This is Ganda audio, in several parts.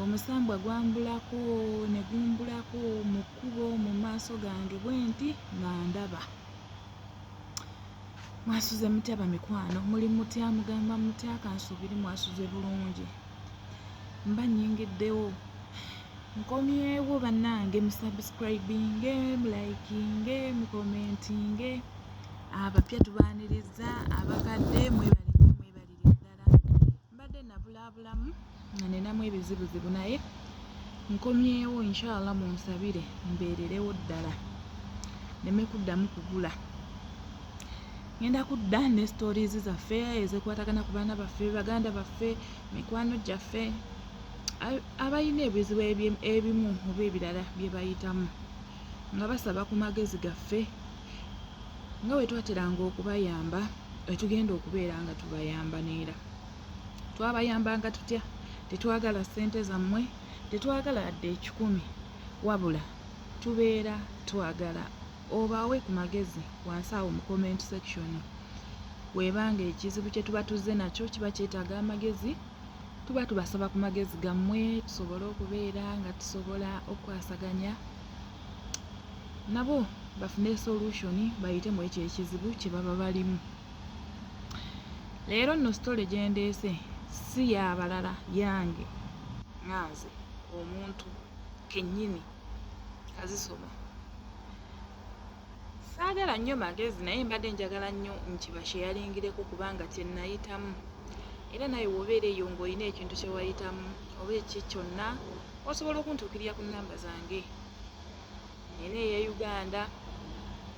omusambwa gwambulako ne gumbulako mu kkubo mu maaso gange bwenti nga ndaba mwasuze mutya bamikwano muli mutya mugamba mutya kansuubiri mwasuze bulungi mba nyingiddewo nkomyewo bannange musubscribinge mulikinge mukomentinge abapya tubaaniriza abakadde mwebali mbadde nabulaabulamu nga nenamu ebizibuzibu naye nkomyewo inshallah munsabire mbeererewo ddala neme kuddamu kugula ngenda kudda ne stories zaffe ezekwatagana ku baana baffe baganda baffe mikwano gyaffe abalina ebizibu ebimu oba ebirala bye bayitamu nga basaba ku magezi gaffe nga bwe twateranga okubayamba wetugenda okubeera nga tubayamba neera twabayambanga tutya tetwagala ssente zammwe tetwagala adde ekikumi wabula tubeera twagala obaawe ku magezi wansi awo mu comment section webanga ekizibu kye tuba tuzze nakyo kiba kyetaaga amagezi tuba tubasaba ku magezi gammwe tusobole okubeera nga tusobola okukwasaganya nabo bafune solution bayite mu ekyo ekizibu kye baba balimu leero nno sitole gyendeese si yabalala yange nganze omuntu kennyini azisoma saagala nnyo magezi naye mbadde njagala nnyo nkibasheyalingireko kubanga kyenayitamu era naye wobeera eyo ngaolina ekintu kyewayitamu oba eki kyonna osobola okuntuukirira ku namba zange ena eya uganda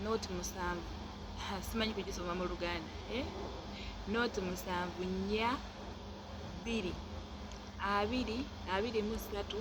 not musanvu simanyi kugisoma mu luganda eh? not musanvu nnya bbiri abiri abiri mu ssatu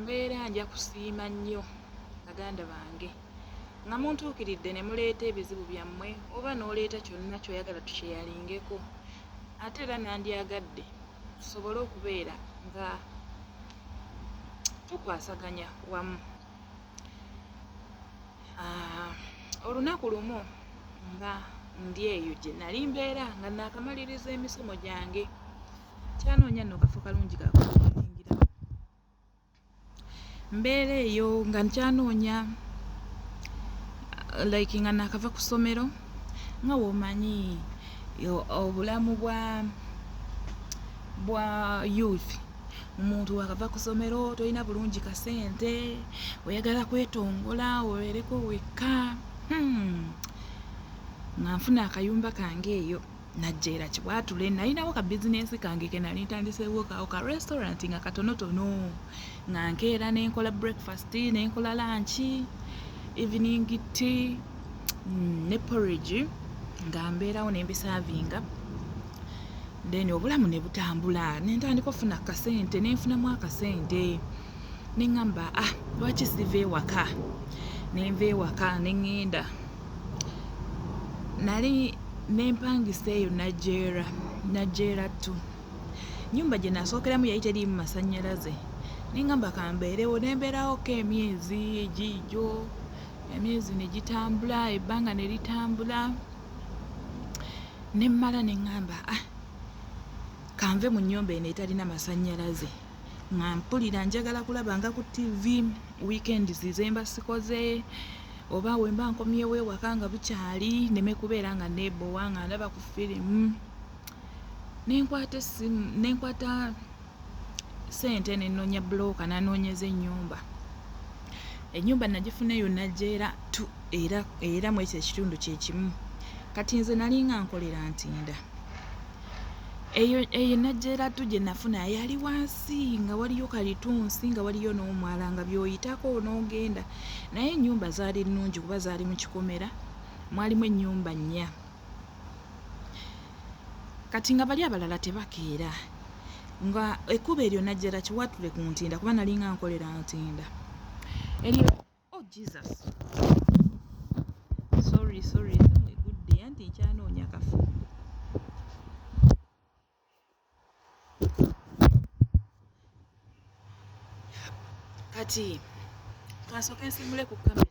mbeera nja kusiima nnyo baganda bange nga muntuukiridde ne muleeta ebizibu byammwe oba n'oleeta kyonna kyoyagala tukyeyalingeko ate era nandyagadde tusobole okubeera nga tukwasaganya wamu ah, olunaku lumu nga ndi eyo gye nali mbeera nga naakamaliriza emisomo gyange kyanoonya nno kafo kalungi kakuingira mbeera eyo nga nkyanoonya like nga nakava ku ssomero nga womanyi obulamu bwa bwa youth omuntu wakava ku ssomero tolina bulungi kasente oyagala kwetongola obeereko wekka hmm. nga nfuna akayumba kange eyo najja era kibwatule nalinawo ka bizinensi kange ke nali ntandiseewo kawo ka restaurant nga katonotono nga nkeera ne nkola breakfast ne nkola lanki evening tea mm, ne porridge nga mbeerawo ne mbisavinga then obulamu ne butambula ne ntandika ofuna akasente ne nfunamu akasente ne ŋŋamba ah lwaki siva ewaka ne nva ewaka ne ŋŋenda Nali ne mpangisa eyo Najjeera, Najjeera two. Ennyumba gye nasookeramu yali teriimu masannyalaze ne ŋŋamba ka mbeerewo. Ne mbeerawokko emyezi giigyo, emyezi ne gitambula, ebbanga ne litambula ne mmala ne ŋŋamba ah ka nve mu nnyumba eno etalina masannyalaze nga mpulira njagala kulabanga ku ttivi, wiikendzi ze mba sikoze. oba wemba nkomyewo ewaka nga bukyali neme kubeera nga nebowa nga ndaba ku firimu nenkwata esimu nenkwata sente nenonya buloka nanoonyeza enyumba enyumba nagifuna eyo najeera tu era era mwekyo ekitundu kyekimu kati nze nalinga nkolera ntinda eyo eyo najjera tu gye nafuna yali wansi nga waliyo kalitunsi nga waliyo n'omwala nga byoyitako n'ogenda naye ennyumba zaali nnungi kuba zaali mu kikomera mwalimu ennyumba nnya kati nga bali abalala tebakeera nga ekkuba eryo najjera kiwatule ku ntinda kuba nalinga nkolera ntinda eryo oh jesus sorry sorry egudde anti nkyanoonya kafu kati kansooka ensimule ku kamera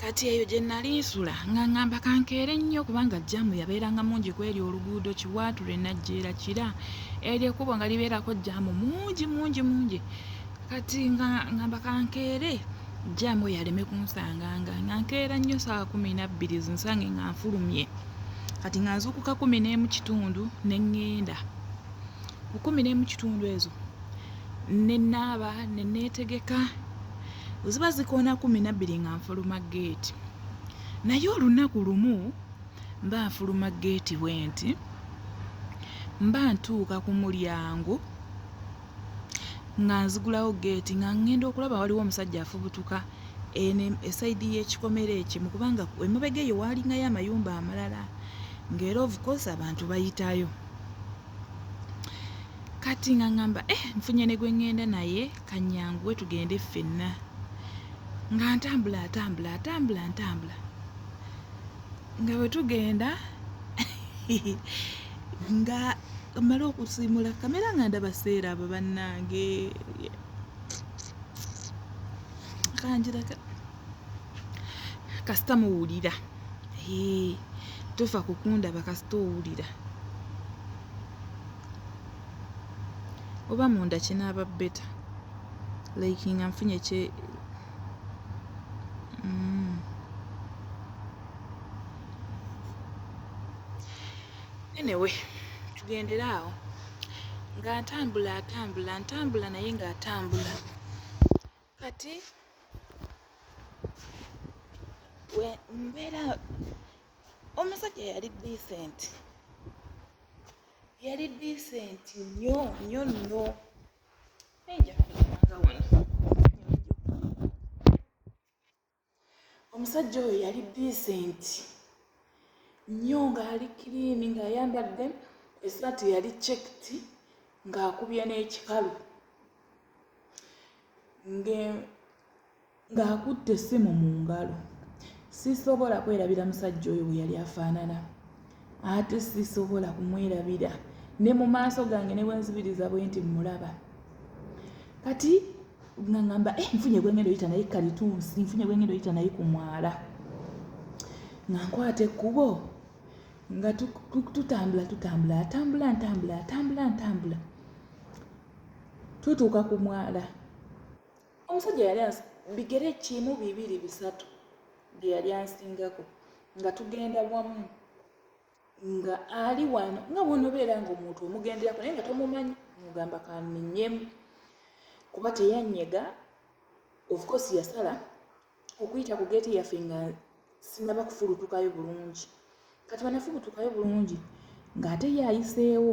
kati eyo gye nnali nsula nga ŋŋamba kankeere nnyo kubanga jjaamu yabeeranga mungi ku eryo oluguudo kiwaature najjeera kira eryo ekkubo nga libeerako jjaamu mungi mungi mungi kati nga ŋŋamba kankeere jjaamu oyo aleme kunsanganga nga nkeera nnyo saawa kumi nabbiri zinsange nga nfulumye kati nga nzuukuka kumi n'emu kitundu ne ŋŋenda ku kumi n'emu kitundu ezo ne naaba ne neetegeka ziba zikoona kumi nabbiri nga nfuluma geeti naye olunaku lumu mba nfuluma geeti bwe nti mba ntuuka ku mulyango nga nzigulawo geeti nga ŋŋenda okulaba waliwo omusajja afubutuka ene esayidi y'ekikomera ekimu kubanga emabega eyo waalingayo amayumba amalala ng'era ovukosi abantu bayitayo kati nga ŋŋamba eh, nfunye ne gwe ŋŋenda naye kanyanguwe tugende ffenna nga ntambula atambula atambula ntambula nga bwe tugenda nga mala okusiimula kamera nga ndaba seera abo bannange kanjiraka kasita muwulira tofa kukundaba kasita owulira oba munda kinaaba beta like nga nfunye kye mm. anyway tugendere awo nga ntambula atambula ntambula naye nga atambula kati mbeera omusajja yali decent yali decent nnyo nnyo nnyo omusajja oyo yali disenti nnyo ng'ali kiriini ng'ayambadde esaati yali cekiti ng'akubye n'ekikalu ng'akutte essimu mu ngalo sisobola kwerabira musajja oyo bwe yali afaanana ate sisobola kumwerabira ne mu maaso gange ne bwenzibiriza bwe nti mmulaba kati nga ngamba eh, nfunye gwengendo yita naye kalitunsi nfunye gwengendo yita naye ku mwala nga nkwata ekkubo nga tutambula tutambula atambula ntambula atambula ntambula tutuuka ku mwala omusajja yali bigere kimu bibiri bisatu bye yali ansingako nga tugenda wamu nga ali wano nga bwonobeera nga omuntu omugenderako naye nga tomumanyi mugamba kaminyemu kuba teyanyega ofcourse yasala okuyita ku geeti yaffe nga sinaba kufulutukayo bulungi kati banafulutukayo bulungi ng'ate yayiseewo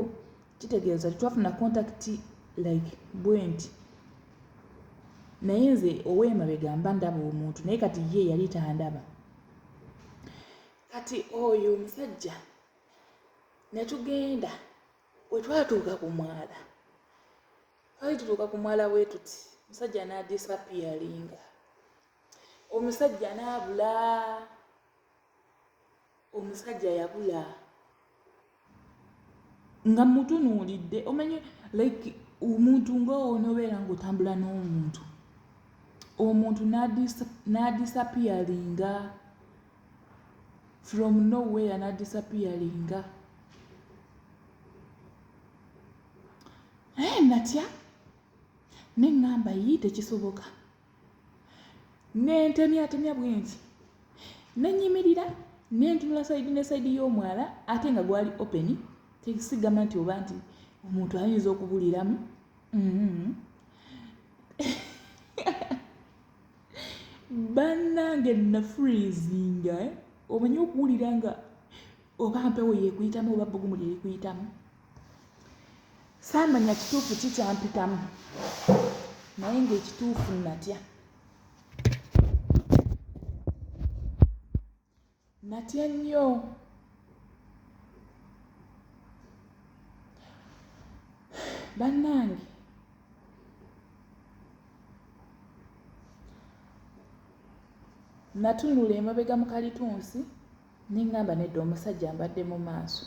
kitegeeza tetwafuna kontakiti like bwenti naye nze owemabegamba ndaba omuntu naye kati ye yali tandaba kati oyo omusajja ne tugenda we twatuuka ku mwala twali tutuuka ku mwala bwe tuti omusajja n'adisapiyaringa omusajja n'abula omusajja yabula nga mutunuulidde omanyi like omuntu ngaowo nobeera ngaotambula n'omuntu omuntu n'adisapiyaringa from nowhere n'adisapiyaringa naye natya neŋŋamba yii tekisoboka nentemyatemya bwenti nenyimirira nentunula saidi ne saidi y'omwala ate nga gwali open tekisigamba nti oba nti omuntu ayinza okubuliramu mm-hmm. bannange nafreezinga eh? omanyi okuwulira nga oba mpewo yekuyitamu oba bbugumu lyerikuyitamu saamanya kituufu ki kyampitamu naye ng'ekituufu natya natya nnyo bannange natunula emabega mu kalitunsi Ne ŋŋamba nedda omusajja mbadde mu maaso.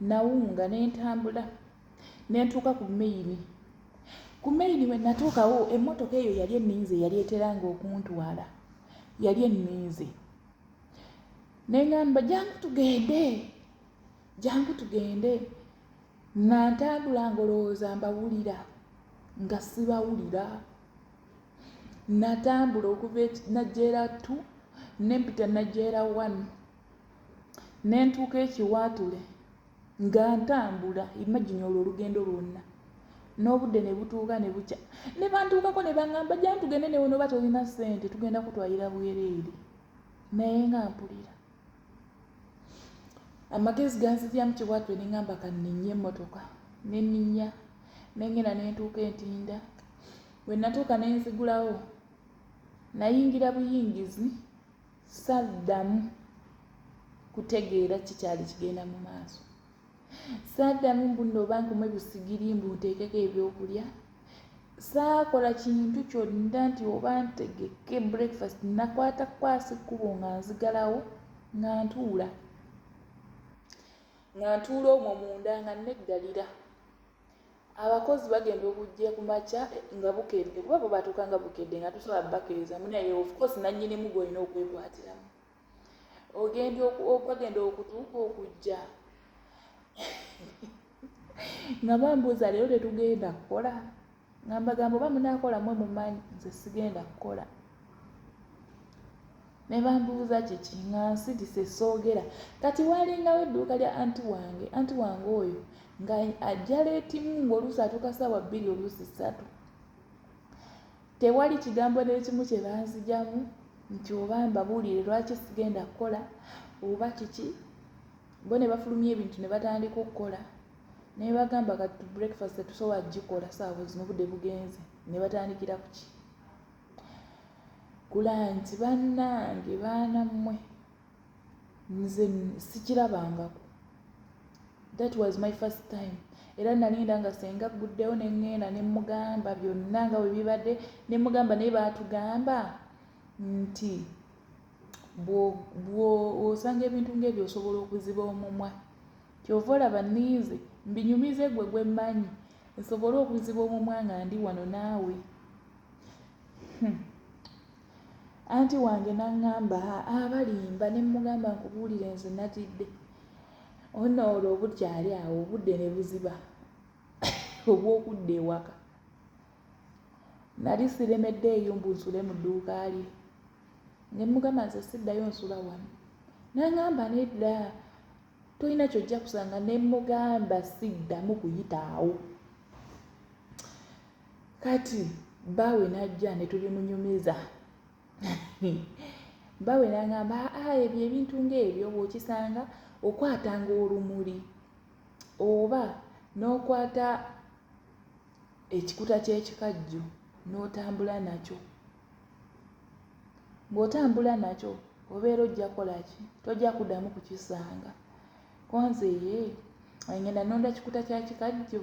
Nawunga ne ntambula ne ntuuka ku meyini. Ku meyini we natuukawo emmotoka eyo yali enninze yali eteranga okuntwala yali enninze. Ne ŋŋamba jangu tugende jangu tugende nga ntambula ngolowooza mbawulira nga sibawulira. natambula okuva e najjeera ttu ne mpita najjeera wanu ne ntuuka ekiwaatule nga ntambula imagine olwo olugendo lwonna n'obudde ne butuuka ne bukya ne bantuukako ne baŋŋamba jja tugende newe noba tolina ssente tugenda kutwalira bwereere naye nga mpulira amagezi ganziryamu kibwatyo ne ŋamba kanninnya emmotoka ne nninnya ne ŋŋenda ne ntuuka entinda bwe natuuka ne nzigulawo nayingira buyingizi saddamu kutegeera kikyali kigenda mu maaso saaddamu mbu nno oba nkume busigiri mbu nteekeko ebyokulya saakola kintu kyonna nti oba ntegeke breakfast nakwata kwasi kkubo nga nzigalawo nga ntuula nga ntuula omwo munda nga neggalira abakozi bagenda okujja ku makya nga bukedde kuba bo batuuka nga bukedde nga tusobola bakiriza munaye ofcourse nannyinimu gwolina okwekwatiramu ogenda bagenda okutuuka okujja nga bambuuza leero tetugenda kukola nga mbagamba oba munaakola mwe mumanyi nze sigenda kukola ne bambuuza kiki nga nsidise soogera kati waalingawo edduuka lya anti wange anti wange oyo nga ajja leetimu ng'oluusi atuuka saawa bbiri oluusi ssatu Tewali kigambo n'ekimu kye banzigyamu nti oba mbabuulire lwaki sigenda kukola oba kiki bo ne bafulumya ebintu ne batandika okukola ne bagamba kati tu breakfast tetusobola kugikola saawa zino obudde bugenze ne batandikira ku ki kulanti bannange baana mmwe nze sikirabangako that was my first time era nalinda nga senga agguddewo ne ŋŋenda ne mmugamba byonna nga bwe bibadde ne mmugamba naye baatugamba nti bw'osanga ebintu ng'ebyo osobola okuziba omumwa kyova olaba ninze mbinyumize gwe gwe mmanyi nsobole okuziba omumwa nga ndi wano naawe hmm. Anti wange n'aŋŋamba haa balimba ne mmugamba nkubuulire nze natidde ono olwo obukyali awo obudde ne buziba obw'okudda ewaka nali siremedde eyo mbu nsule mu dduuka lye ne mmugamba nze siddayo nsula wano n'aŋŋamba nedda tolina kyojja kusanga ne mmugamba siddamu kuyita awo kati baawe n'ajja ne tubimunyumiza baawe n'aŋamba aa ebyo ebintu ng'ebyo bw'okisanga okwatanga olumuli oba n'okwata ekikuta ky'ekikajjo n'otambula nakyo ng'otambula nakyo obeera ojja kukola ki tojja kuddamu kukisanga Konze ye ngenda nonda kikuta kya kikajjo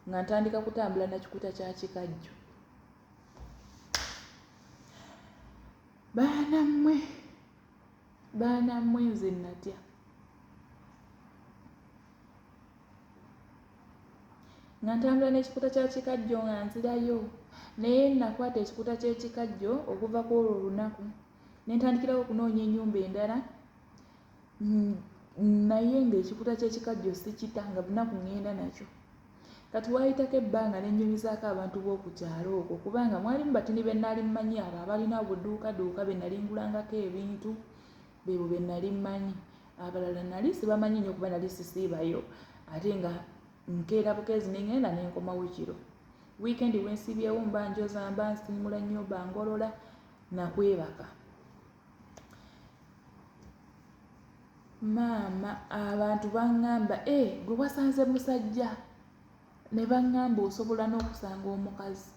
nga ntandika kutambula na kikuta kya kikajjo. Baana mmwe baana mmwe nze natya. Nga ntambula n'ekikuta kya kikajjo nga nzirayo naye nakwata ekikuta ky'ekikajjo okuva ku olwo olunaku ne ntandikirawo okunoonya ennyumba endala mm, naye ng'ekikuta ky'ekikajjo sikita nga bunaku ŋŋenda nakyo kati waayitako ebbanga ne nnyumizaako abantu b'oku kyalo okwo kubanga mwalimu batini be nali mmanyi abo abalina obuduukaduuka be nali ngulangako ebintu bebo be nali mmanyi abalala nali sibamanyi nnyo kuba nali sisiibayo ate nga nkeera bukeezi ne ŋŋenda ne nkomawo kiro wiikendi wensiibyewo mba njoza mba nsiimula nnyumba ngolola nakwebaka maama abantu baŋŋamba e eh, gwe wasanze musajja ne baŋŋamba osobola n'okusanga omukazi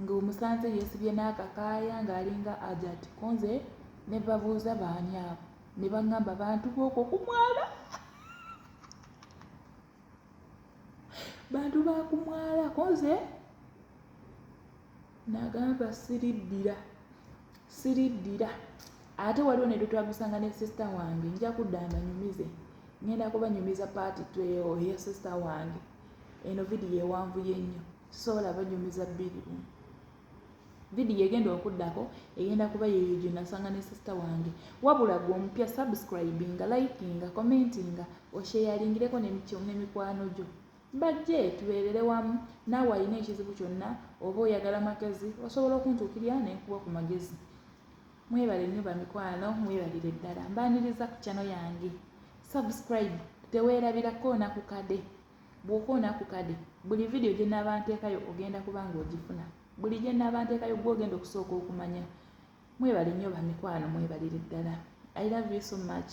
ng'omusanze yeesibye n'akakaaya ng'alinga ajati ko nze ne babuuza baani abo ne baŋŋamba bantu bookwo ku mwala bantu ba ku mwala ko nze nagamba siriddira siriddira ate waliwo ne lwetwagusanga ne sisita wange nja kudda mbanyumize ngenda kubanyumiza paati oya sisita wange eno vidiyo ewanvuye nnyo sisobola banyumiza bbiri bumu vidiyo egenda okuddako egenda kuba yeeyo gye nasanga ne sisita wange wabula gwe omupya subscribinga likinga commentinga osheyalingireko nemikwano gyo Bajje tubeerere wamu. Naawe alina ekizibu kyonna oba oyagala magezi osobola okuntuukirira ne nkuwa ku magezi. Mwebale nnyo bamikwano, mwebalire ddala. Mbaaniriza ku channel yange. Subscribe teweerabira koona ku kade. Bw'okoona ku kade, buli vidiyo gye naaba nteekayo ogenda kuba ng'ogifuna. Buli gye naaba nteekayo gwe ogenda okusooka okumanya. Mwebale nnyo bamikwano, mwebalire ddala. I love you so much.